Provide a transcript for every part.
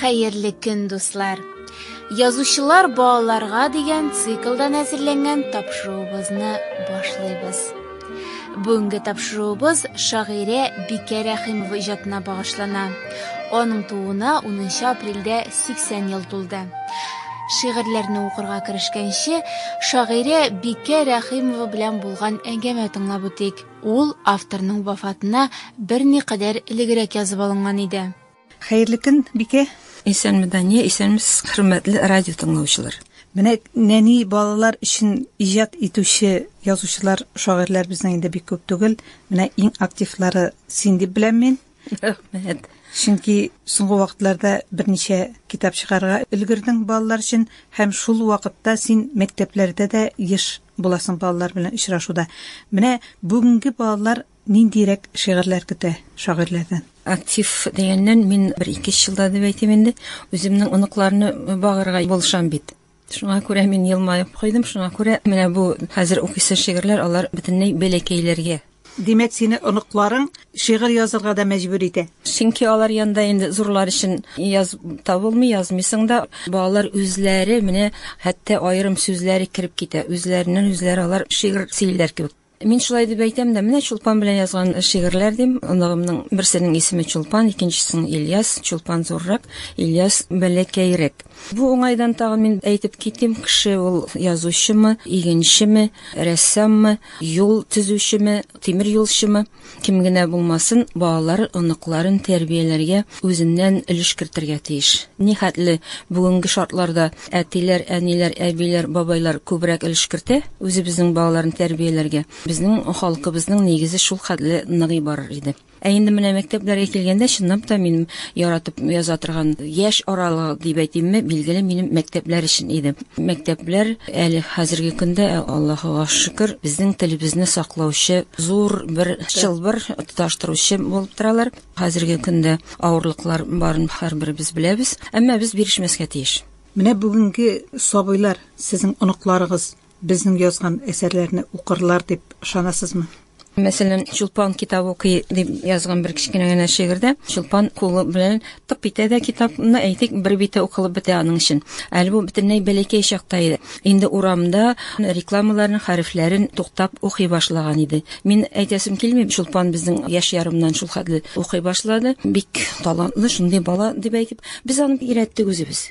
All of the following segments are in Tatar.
Хәерле көн, дуслар! Язучылар балаларга дигән циклдан әзерләнгән тапшыруыбызны башлыйбыз. Бүгенге тапшыруыбыз шагыйрә Бикә Рәхимова иҗатына багышлана. Аның тууына 10 апрельдә 80 ел тулды. Шигырьләрне укырга керешкәнче, шагыйрә Бикә Рәхимова белән булган әңгәмә тыңлап үтик. Ул авторның вафатына берникадәр элегрәк язып алынган иде. Хәерле көн, Бикә. Исәнме, Дания, исәнмесез, хөрмәтле радио тыңлаучылар. Менә нәни балалар өчен иҗат итүче язучылар, шагыйрьләр безнең инде бик күп түгел. Менә иң активлары син дип беләм мин. Рәхмәт. Чөнки соңгы вакытларда берничә китап чыгарга өлгердең балалар өчен һәм шул вакытта син мәктәпләрдә дә еш буласың балалар белән очрашуда. Менә бүгенге балалар ниндирәк шигырьләр көтә шагыйрьләрдән? Актив дигәннән мин бер ике елда дип әйтим инде, үземнең оныкларны багырга булышам бит. Шуңа күрә мин елмаеп куйдым, шуңа күрә менә бу хәзер укыйсы шигырьләр алар бөтенләй бәләкәйләргә. Димәк, сине оныкларың шигырь язырга да мәҗбүр итә. Чөнки алар янда инде зурлар өчен яз табылмый, язмыйсың да. Балалар үзләре менә хәтта аерым сүзләре кереп китә, үзләреннән үзләре алар шигырь сөйлиләр кебек. Мин шулай дип әйтәм дә, менә Чулпан белән язган шигырьләр дим. Оныгымның берсенең исеме Чулпан, икенчесенең Ильяс. Чулпан зуррак, Ильяс бәләкәйрәк. Бу уңайдан тагы мин әйтеп китим, кеше ул язучымы, игенчеме, рәссаммы, юл төзүчеме, тимер юлчымы? Кем генә булмасын, балалар, оныкларын тәрбияләргә үзеннән өлеш кертергә тиеш. Нихәтле бүгенге шартларда әтиләр, әниләр, әбиләр, бабайлар күбрәк өлеш кертә үзебезнең балаларын тәрбияләргә, безнең халкыбызның нигезе шул хәтле ныгый барыр иде. Ә инде менә мәктәпләргә килгәндә, чынлап та минем яратып яза торган яшь аралыгы дип әйтимме, билгеле минем мәктәпләр өчен иде. Мәктәпләр Әле хәзерге көндә, Аллаһыга шөкер, безнең телебезне саклаучы зур бер чылбыр, тоташтыручы булып торалар. Хәзерге көндә авырлыклар барын һәрберебез беләбез, әмма без бирешмәскә тиеш. Менә бүгенге сабыйлар, сезнең оныкларыгыз безнең язган әсәрләрне укырлар дип ышанасызмы? Мәсәлән, Чулпан китап укый дип язган бер кечкенә генә шигырьдә Чулпан кулы белән тып итә дә китапны, әйтик, бер бите укылып бетә аның өчен. Әле бу бөтенләй бәләкәй чакта иде. Инде урамда рекламаларның хәрефләрен туктап укый башлаган иде. Мин әйтәсем килми, Чулпан безнең яшь ярымнан шул хәтле укый башлады. Бик талантлы шундый бала дип әйтеп, без аны өйрәттек үзебез.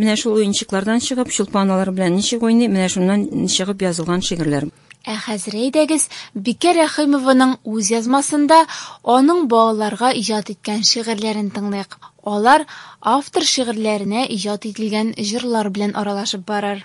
Менә шул уенчыклардан чыгып, Чулпан алар белән ничек уйный, менә шуннан чыгып язылган шигырьләр. Ә хәзер әйдәгез, Бикә Рәхимованың үз язмасында аның балаларга иҗат иткән шигырьләрен тыңлыйк. Алар автор шигырьләренә иҗат ителгән җырлар белән аралашып барыр.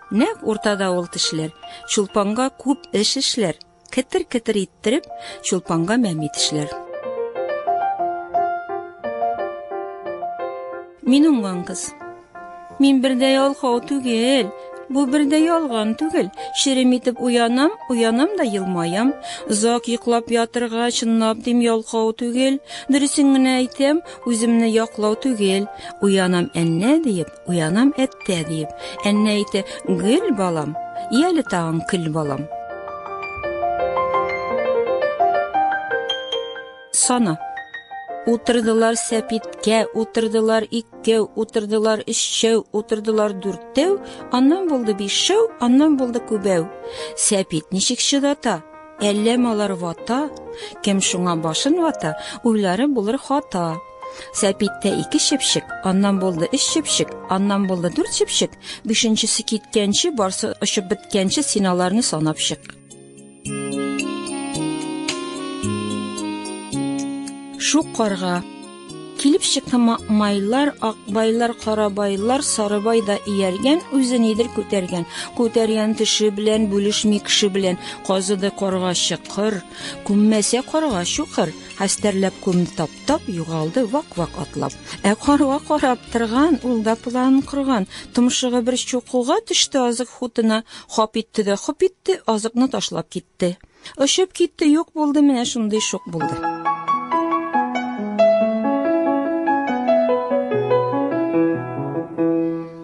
Нәкъ уртада ул тешләр, чулпанга күп эш эшләр. Кетер-кетер иттереп, чулпанга мәми тешләр. Мин уңган кыз. Мин бердә ялхау түгел, бу бердә ялган түгел. Шерем итеп уянам, уянам да елмаям. Озак йоклап ятырга чынлап дим ялхау түгел. Дөресен генә әйтәм, үземне яклау түгел. Уянам әннә диеп, Уянам әттә диеп, әннә әйтә, гөл балам, ияле тагын көл балам. Сана. Утырдылар сәпиткә, утырдылар иккәү, утырдылар өччәү, утырдылар дүрттәү, аннан булды бишшәү, аннан булды күбәү. Сәпит ничек чыдата? Әллә малар вата? Кем шуңа башын вата, уйлары булыр хата. Сәпиттә ике чепчек, аннан булды өч чепчек, аннан булды дүрт чепчек, бишенчесе киткәнче, барсы очып беткәнче син аларны санап чык. Шук карга Килеп чыкты майлар, акбайлар, карабайлар, сарыбай да ияргән, үзе нидер күтәргән. Күтәргән теше белән бүлешми кеше белән, казыды карга чыкыр, күммәсә карга чукыр, хәстәрләп күмде тап. Тап югалды вак-вак атлап. Ә карга карап торган, ул да план корган. Томшыгы бер чукуга төште азык хутына, хап итте дә хоп итте, азыкны ташлап китте. Очып китте, юк булды, менә шундый шук булды.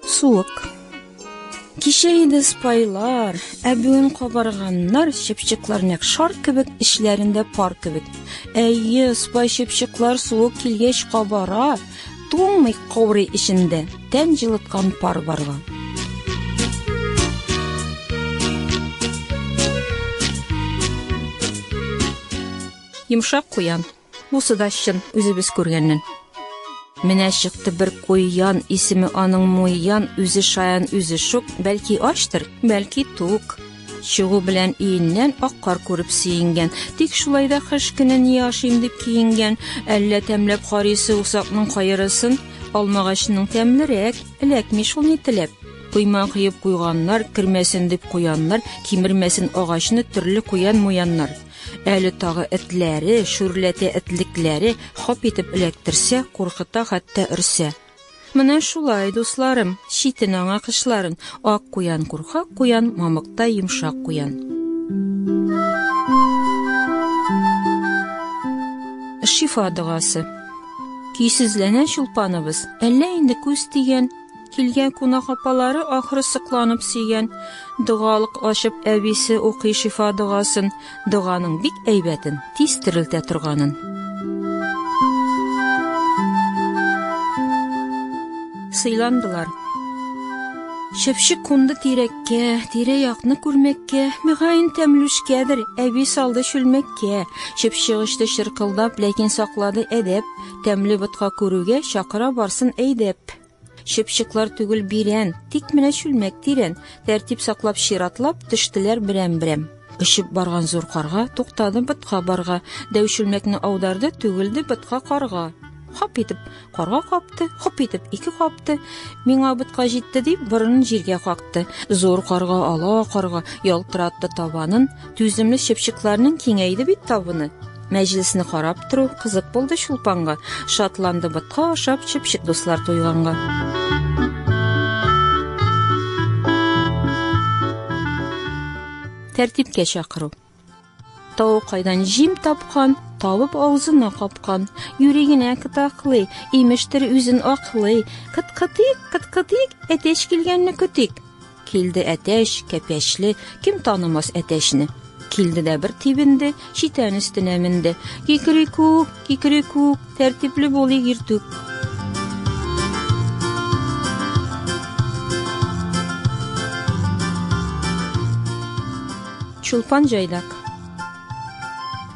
Суык. Кичә иде спайлар, ә бүген кабарганнар, чыпчыклар нәк шар кебек, эчләрендә пар кебек. Әйе, спай чыпчыклар суык килгәч кабара, туңмый каурый эчендә, тән җылыткан пар барган. Йомшак куян. Бусы да чын, үзебез күргәннән. Менә чыкты бер куян, исеме аның муян, үзе шаян, үзе шук, бәлки ачтыр, бәлки тук. Чыгу белән иеннән ак кар күреп сөенгән. Тик шулай да кыш көне ни ашыйм дип киенгән. Әллә тәмләп карыйсы усакның кайырысын, алмагачның тәмлерәк, эләкми шул ни теләп. Койма кыеп куйганнар, кермәсен дип куяннар, кимермәсен агачны төрле куян-муяннар. Әле тагы этләре, шүрләтә этлекләре хоп итеп эләктерсә, куркыта хәтта өрсә. Менә шулай, дусларым, читен аңа кышларын. Ак куян курка куян, мамыкта йомшак куян. Шифа догасы. Көйсезләнә чулпаныбыз. Әллә инде күз тигән, Килгән кунак апалары ахры сокланып сөйгән. Догалык ачып әбисе укый шифа догасын. Доганың бик әйбәтен, тиз терелтә торганын. Сыйландылар. Чәпчек кунды тирәккә, тирә-якны күрмәккә, мөгаен тәмлүшкәдер, әби салды чүлмәккә. Чәпчек очты чыркылдап, ләкин саклады әдәп. Тәмле ботка күрүгә, чакыра барсын әйдәп. Чыпчыклар түгел бирән, тик менә чүлмәк тирән. Тәртип саклап чиратлап, төштеләр берәм-берәм. Очып барган зур карга туктады бытка барга. Дәү чүлмәкне аударды, түгелде бытка карга. Хап итеп карга капты, хоп итеп ике капты. Миңа бытка җитте дип борынын җиргә какты. Зур карга, ала карга ялтыратты табанын. Түземле чыпчыкларның киңәйде бит табыны. Мәҗлесне карап тору кызык булды Чулпанга. Шатланды ботка ашап чыпчык дуслар туйганга. Тәртипкә чакыру. Тау кайдан җим тапкан, табып авызына капкан. Юри генә кытаклый, имештер үзен аклый. Кыт-кытык, кыт-кытык, әтәч килгәнне көтик. Килде әтәч, кәпәчле, кем танымас әтәчне. Килде дә бер тибенде, читән өстенә менде. Кикрикүк, кикрикүк, тәртипле булыйк иртүк. Чулпан җайдак.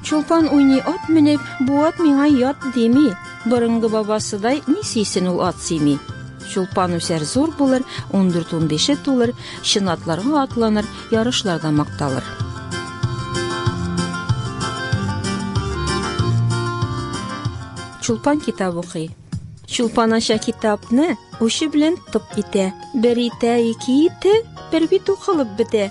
Чулпан уйный ат менеп, бу ат миңа ят дими. Борынгы бабасыдай ни сөйсен ул ат сөйми. Чулпан үсәр зур булыр, 14-15 тулыр, чын атларга атланыр, ярышларда макталыр. Чулпан китап укый. Чулпан ача китапны, учы белән тып итә. Бер итә, ике итә, бер бит укылып бетә.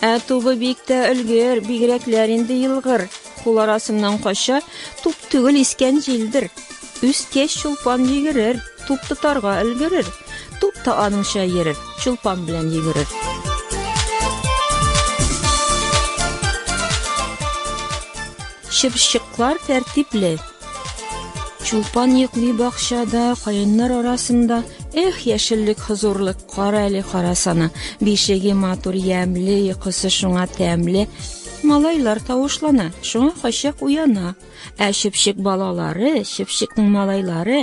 Ә тубы бик тә өлгер, бигрәкләр инде елгыр. Кул арасыннан кача, туп түгел искән җилдер. Үскәч чулпан йөгерер, туп тотарга өлгерер. Туп та аныңча йөрер, чулпан белән йөгерер. Чыпчыклар тәртипле, Чулпан йөкли бакчада, каеннар арасында. Эх, яшеллек хозурлык, кара әле карасана. Бишеге матур ямле, йокысы шуңа тәмле. Малайлар тавышлана, шуңа качак уяна. Ә чепчек балалары, чепчекнең малайлары,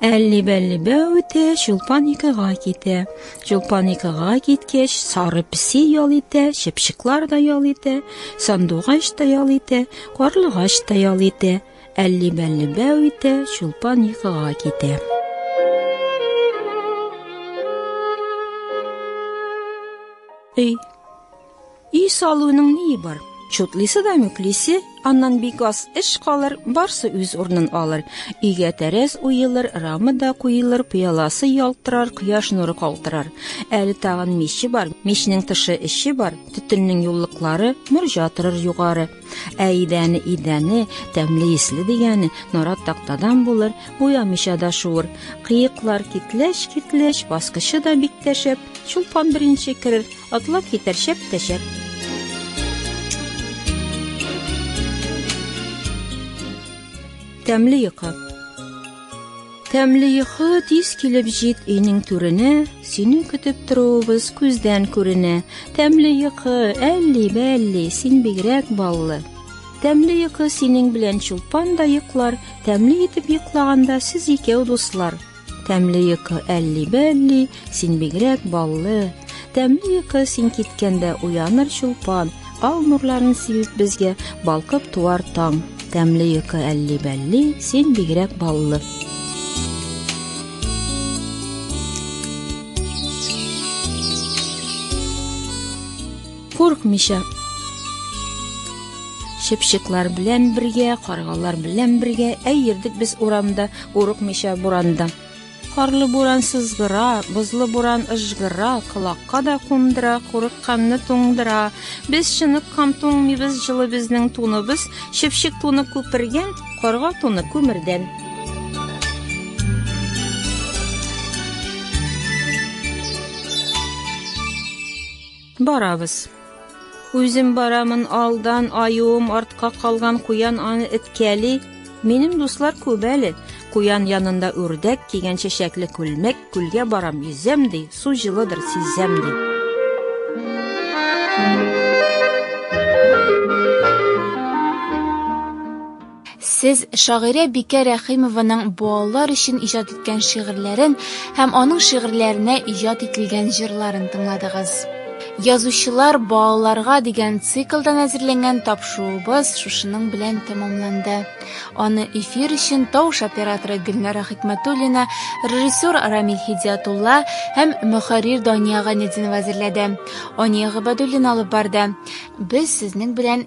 Әлли-бәлли бәү үтә, чулпан икыга китә. Чулпан икыга киткәч, сары песи ял итә, чыпчыклар да ял итә, сандугач та ял итә, карлыгач та ял итә. Әлли-бәлли бәү итә, чулпан икыга китә. Өй Өй салуның ни бар? Чутлисе да мөклисе, аннан бик аз эш калыр, барсы үз урнын алыр. Өйгә тәрәз уелыр, рама да куелыр, пыяласы ялтырар, кояш нуры калтырар. Әле тагын миче бар, мичнең тышы эче бар, төтеннең юллыклары, мөрҗа торыр югары. Ә идәне идәне, тәмле исле дигәне нарат тактадан булыр, буямыйча да шуыр. Кыеклар китләш китләш, баскычы да бик тәшәп, чулпан беренче керер, атлап китәр шәп тәшәп. Тәмле йокы. Тәмле йокы тиз килеп җит өйнең түренә, сине көтеп торуыбыз күздән күренә. Тәмле йокы, әлли бәлли, син бигрәк баллы. Тәмле йокы синең белән чулпан да йоклар, тәмле итеп йоклаганда сез икәү дуслар. Тәмле йокы әлли бәлли, Син бигрәк баллы, тәмле йокы син киткәндә уяныр чулпан, ал нурларын сибеп безгә балкып туар таң. Тәмле йокы әлли бәлли, син бигрәк баллы. Куркмыйча Шепшеклар белән бергә, каргалар белән бергә, әй йөрдек без урамда, курыкмыйча буранда. Карлы буран сызгыра, бозлы буран ыжгыра, колакка да кундыра, курыкканны туңдыра. Без чыныккан туңмыйбыз, җылы безнең туныбыз, чыпчык туны күпергән, карга туны күмердән. Барабыз. Үзем барамын алдан, аюым артка калган куян аны эткәли. Минем дуслар күп әле. Куян янында үрдәк кигән чәчәкле күлмәк, күлгә барам, йөзәм ди, су җылыдыр, сизәм ди. Сез шагыйрә Бикә Рәхимованың балалар өчен иҗат иткән шигырьләрен һәм аның шигырьләренә иҗат ителгән җырларын тыңладыгыз. Язучылар балаларга дигән циклдан әзерләнгән тапшуыбыз шушының белән тәмамланды. Аны эфир өчен тавыш операторы Гөлнара Хикмәтуллина, режиссер Рамиль Хидиятулла һәм мөхәррир Дания Гайнетдинова әзерләде. Ания Гыйбадуллина алып барды. Без сезнең белән